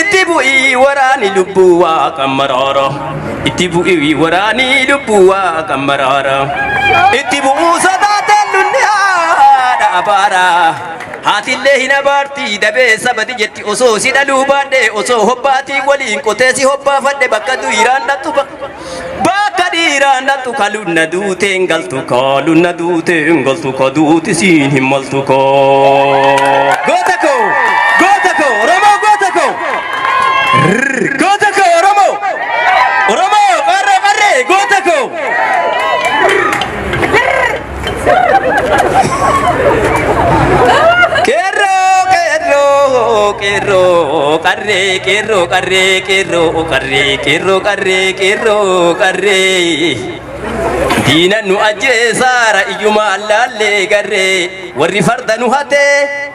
Itti bu'ii waraani lubbuu waaqa maraara. Itti bu'ii waraani lubbuu waaqa maraara. Itti bu'uu sodaateen lulli haadha abaara. Haatillee hin abaarti dabee sabati jetti osoo si dhaluu baadhee osoo hobbaatii waliin qotee si hobbaafadhe bakka du'iraan dhattu ba. Bakka dhiiraan dhaqxu ka lunna duutee hin galtu koo lunna duutee hin galtu koo duuti siin hin maltu koo. Goota koo goota koo Oromoo goota koo. Rrrr, Goota koo Oromoo. Oromoo qarree qarree goota koo. Qeerroo qeerroo qeerroo qarree qeerroo qarree qeerroo qarree qeerroo qarree qeerroo qarree. Diina nu ajjeesaara iyyuma allaallee garree warri farda nu hatee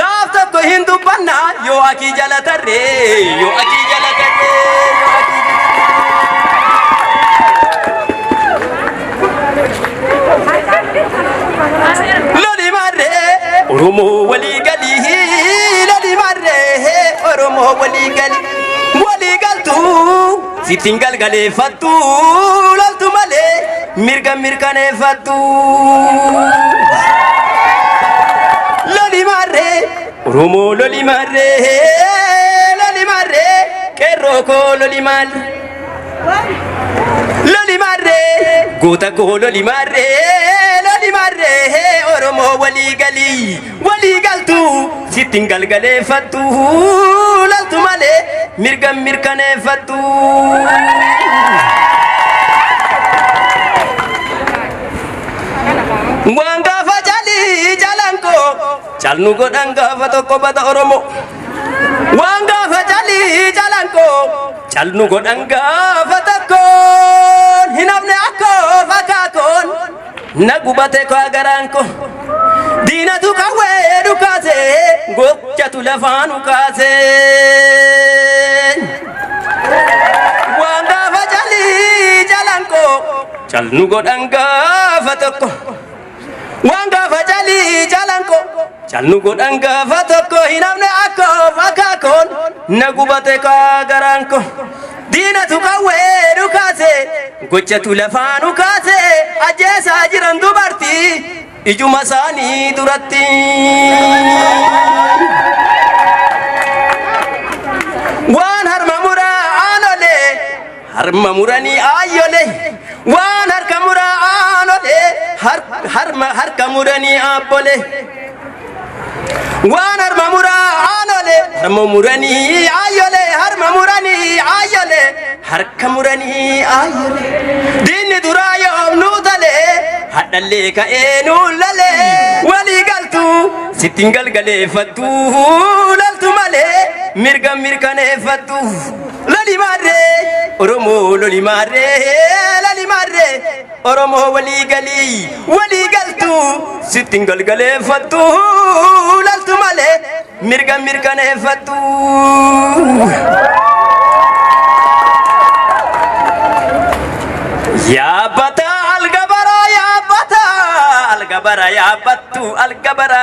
Gaaf tokko hin dubbanna yoo akii jala tarre yoo akii jala tarre yoo akii jala tarre. Loli marre Oromoo walii galii loli marre Oromoo walii galii walii galtuu. Sittin galgaleeffattu loltu malee mirga mirkaneeffattu. Loli marree Oromoo loli marree loli marree qeerroo koo loli marree. Loli marree goota koo loli marree loli marree Oromoo walii galii. walii galtu sitti hin galgaleeffattu laltu malee mirga hin mirkaneeffattu. Waan gaafa calii jalan koo calnu godhan gaafa tokko bada Oromoo. Waan gaafa calii jalan koo calnu godhan gaafa tokkoon hin hafne akkoo fakkaakoon. Na gubate kaa garaan ko diinatu qawwee dhukaase gochatu lafaa nu kaase. Waan gaafa calii jalan ko cal nu godhan gaafa tokko. Waan gaafa calii jalan ko cal nu godhan gaafa tokko hin hafne akkoo fakkaakoon na gubate kaa garaan ko. Diinatu qawwee dhukaase gochatu lafaa nu kaase ajjeesaa jiran dubartii ijuma isaanii duratti. Waan harma muraa aanolee harma muranii aayyolee waan harka muraa aanolee har- harma harka muranii aabbolee. Waan harma muraa aanolee harma muranii aayyolee harma muranii aayyolee harka muranii aayyolee diinni duraa yoom nuu talee hadhallee ka'ee nuu lalee walii galtuu sittiin galgaleeffattu laltu malee mirga mirkaneeffattu loli maarree oromoo loli maarree loli maarree. Oromoo walii galii walii galtu sitti hin galgaleeffattu laltu malee mirga mirkaneeffattu. Yaabbata algabara yaabbata algabara yaabbattu algabara.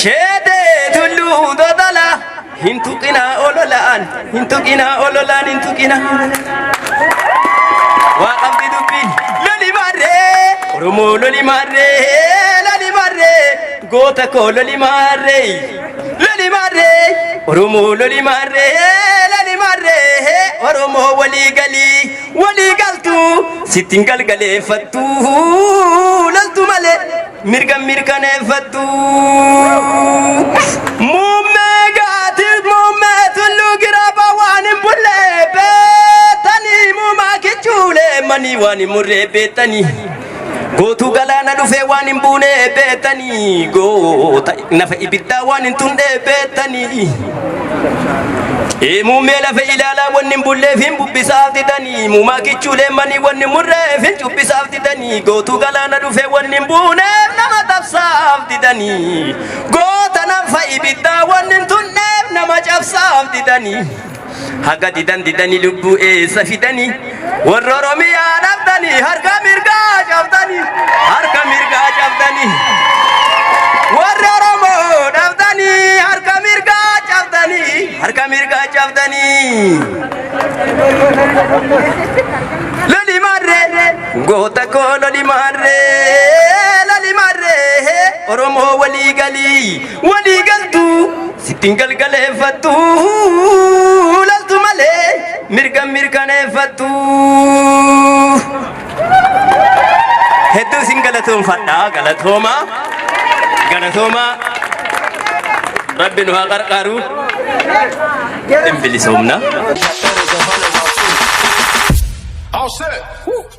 Sheedee tulluu dodala hin tuqina ololaan hin tuqina ololaan hin tuqina. Waa qabdi dubbiin loli marree Oromoo loli marree loli marree goota koo loli marree loli marree Oromoo loli marree loli marree Oromoo walii galii. walii galtu sittin galgaleeffattu laltu malee mirga mirkaneeffattu muummee gaatiif muummee tulluu giraaba waan hin bullee beektanii muumaa kichuulee manii waan hin murree beektanii. Gootuu galaana dhufee waan hin buune beektanii goota nafa ibiddaa waan hin tunne beektanii. Ee muummee lafa ilaalaa wanni hin bulleef hin bubbisaaf didanii muumaa kichuulee manii wanni hin murreef hin cubbisaaf didanii gootuu galaana dhufee wanni hin buuneef nama tabsaaf didanii goota nafa ibiddaa wanni hin tunneef nama cabsaaf didanii. haga didan didani lubbuu eessa fidani warra oromiyaa dhabdani harka mirgaa cabdani harka mirgaa cabdani warra oromoo dhabdani harka mirgaa cabdani harka mirgaa cabdani loli marre goota koo loli marre loli marre oromoo walii galii walii galtuu Sitti hin galgaleeffattu laltu malee mirga hin mirkaneeffattu. Hedduu isin galatoomfadha galatooma galatooma rabbi nu haa qarqaaru hin bilisoomna. All set.